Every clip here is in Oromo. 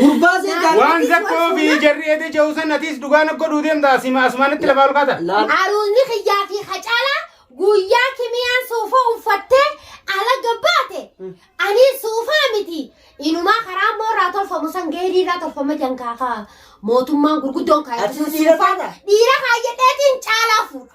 Gurbaa sii gaafadhu. Waan zakkoo fi jarri eedee jehu san atiis dhugaa na godhuu deemta asima asmaanitti lafaa ol kaata. Laal. Aruunni kiyyaa fi hacaalaa guyyaa kimiyaan suufa uffattee alaga baate anii suufaa miti inumaa karaa immoo irraa tolfamu san geerii irraa tolfama jankaa kaa mootummaan gurguddoon Ati kaayatu san siira suufaa taata? dhiira kaayyadheetiin caalaa fuudha.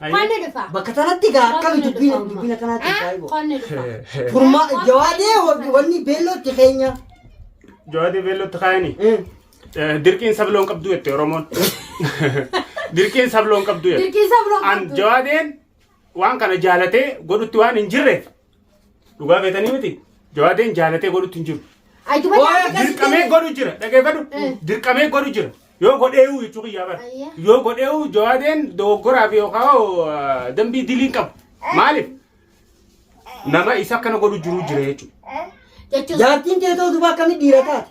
Qonni dhufa. Bakka tanatti gaa akkami Qonni dubbina dhufa. dubbina kanaatti Eh, ajaa'iba. Qonni dhufa. Furmaa jawaadee wa- wanni beellootti keenya. Jawaadee beellootti kaayani. Eh, Eh, Dirqiin sabloon qabdu jette Oromoon. Dirqiin sabloon qabdu jette. Dirqiin sabloon An qabdu. jawaadeen waan kana jaalatee godhutti waan hin jirreef Dhugaa beetanii miti. Jawaadeen jaalatee godhutti hin jiru. Ayyuba Waa, daandii gadi Dirqamee deemee- godhu jira. Dhaggeeffadhu. Eh. Dirqamee godhu jira. Yoo godheewu jechuu kiyyaa bara. Ayya. Yoo godheewu jawaadeen dogoggoraa fi yookaan hoo, ah, dambii dilii qabu. Maaliif? Nama isa akkana godhu jiru jira jechuudha. jechuun Jaartiin kee ta'uu duba akkamii dhiira taate?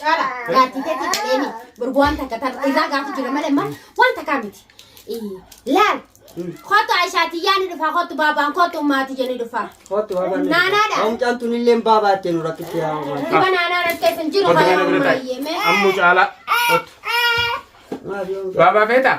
Caala gaartii keetii dhaleeni borgu waan takka tan irraa gaafi jira malee amma waan takkaa miti. Ii, Laal kootu Aishaatii yaani dhufaa kootu baabaan kootu maatii jenni dhufaa. Kootu baabaan. Naanaadha. Omcaan tun illee baabaa itti nu rakkitti yaa uumaa. Dhiba naanaa rakkee sun jiru Kottu kana bira baay'ee taa'i. mee. Ammu caalaa. Kottu. Maaf yoo Baabaa feetaa?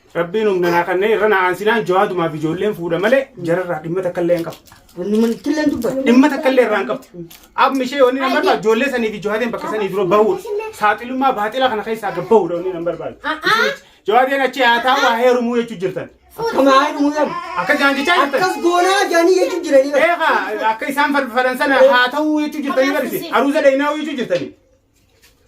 Rabbiin humna naa kannee irra naa aansinaan jawaadumaaf ijoolleen fuudha malee jararraa dhimma takka illee hin qabu. Dhimma takka illee irraa hin qabdu. Amma ishee wanni nan barbaadu ijoollee sanii fi jawaadeen bakka sanii dura bahuudha. Saaxilummaa baaxila kana keessaa gad bahuudha wanni nan barbaadu. Jawaadeen achi haa taa'u haa heerumuu jechuu jirtan. Akka jaan jechaa jirtan. Akkas goonaa jaanii jechuun jiranii. Eegaa akka isaan farfaran sana haa ta'uu jechuu jirtanii barisi. Aruuza dheeyinaa jechuu jirtanii.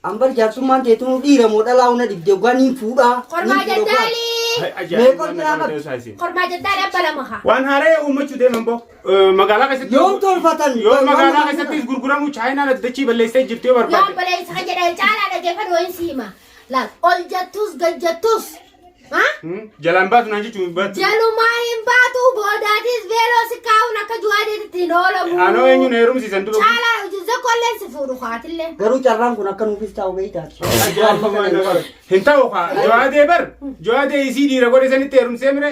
An bar jaarsummaan teetunuu dhiira moo dhalaa'uu na dhibde oggaa niin fuudhaa. Kormaa niin fuudha oggaa. jaddaalii. Hay ajaa'ibni Meeqol waan biraa nama qabdi? ta'uusaa isin. Kormaa jaddaalii abba lama haa. Waan haaraya uummachuu deeman boo eh, magaalaa keessatti Yoom tolfatan? yoo Waan magaalaa nama keessattis gurguramu chaayinaan addachii balleessee jirti yoo Yaa barbaadde. obboleessa kan jedhan caalaa dhaggeeffadhu wayiin si hima. Laal ol jettus gad jettus Jalaan baatu naan jechuun baatu. Jalumaa hin baatu boodaatis veeloo si kaa'uun akka juwaadeetitti hin oolamu. Anoo eenyuun heerumsiisan dura. Caalaa zakkolleen si fuudhu kaatillee. Garuu carraan kun akka nuufis taa'u beektaati. Hin ta'u kaa. Jawaadee bar. Jawaadee isii dhiira godhe sanitti heerumsee mire.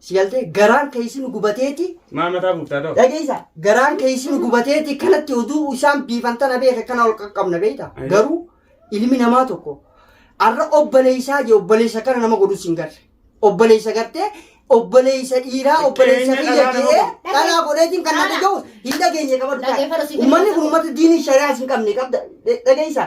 Si galtee garaan keessi nu gubateeti. Maa mataa buuftaa ta'u? Dhageessa garaan keessi nu gubateeti kanatti oduu isaan biifan tana beeka kana ol qaqqabna beekta. Ayi. Garuu ilmi namaa tokko arra obboleessaa jee obboleessa kana nama godhus hin garre. Obboleessa gartee obboleessa dhiiraa obboleessa Xiqqeenya kiyya dhalaa nama jedhee godhu. dhalaa godheetiin kan na Dhala. dhaga'u hin dhageenye qabadhu. Dhaggeeffadhu si Uummanni kun uummata diinii shari'aas hin qabne qabda. Dhageessa.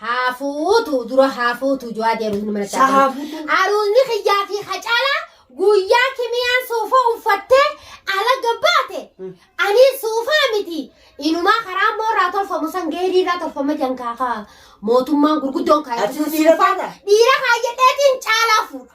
Haafuutu dura haafuutu jawaa jedhu inni mana Sa haafuutu? Aruunni kiyyaa fi hacaalaa guyyaa kimiyaan suufa uffattee alaga baate ani suufaa miti inumaa karaa immoo irraa tolfamu san geerii irraa tolfama jan kaakaa mootummaan gurguddoon Ati kaayyatu dhiira suufaa kana? dhiira kaayyadheetiin caalaa fuudha.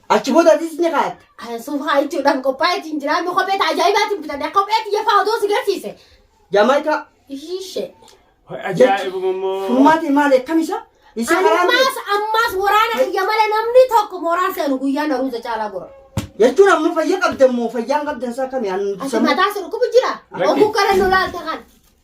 Achi booda atis ni kaatta. Kan suufaa jechuudhaaf qophaa'eeti hin jira. Amma kophee ta'a ajaa'ibaatiin bitadha. Kophee xiyya fa'aa odoo si garsiise. Jaamaayikaa. Ishee. Ajaa'ibuma immoo. Furmaatee maali akkam isa? Isa karaan ta'e. Ammaas ammaas waraana biyya malee namni tokko mooraan seenu guyyaa naruuza caalaa gora. Jechuun amma fayya qabdan moo fayyaan qabdan isaa kami? Ati mataa si dhukkubu jira. Rakki. Oguu gara nu laalta kan.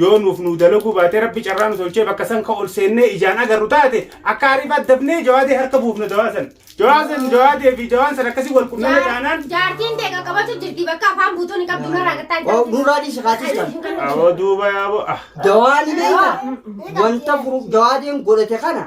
Yoo nuuf nuu dalaguu baatee rabbi carraa nu tolchee bakka san ka ol seennee ijaan agarru taate akka ariif addafnee jawaadee harka buufna jawaa san. Jawaa san jawaadee fi jawaan san akkasii wal qunname taanaan. Jaartiin ta'e qaqqabatu jirti bakka afaan buutuun hin qabdu narraa gattaa hin qabdu. Nurraa dhiisi kaatis kan. Awoo duuba yaaboo ah. Jawaani beekta wanta furu jawaadeen godhate kana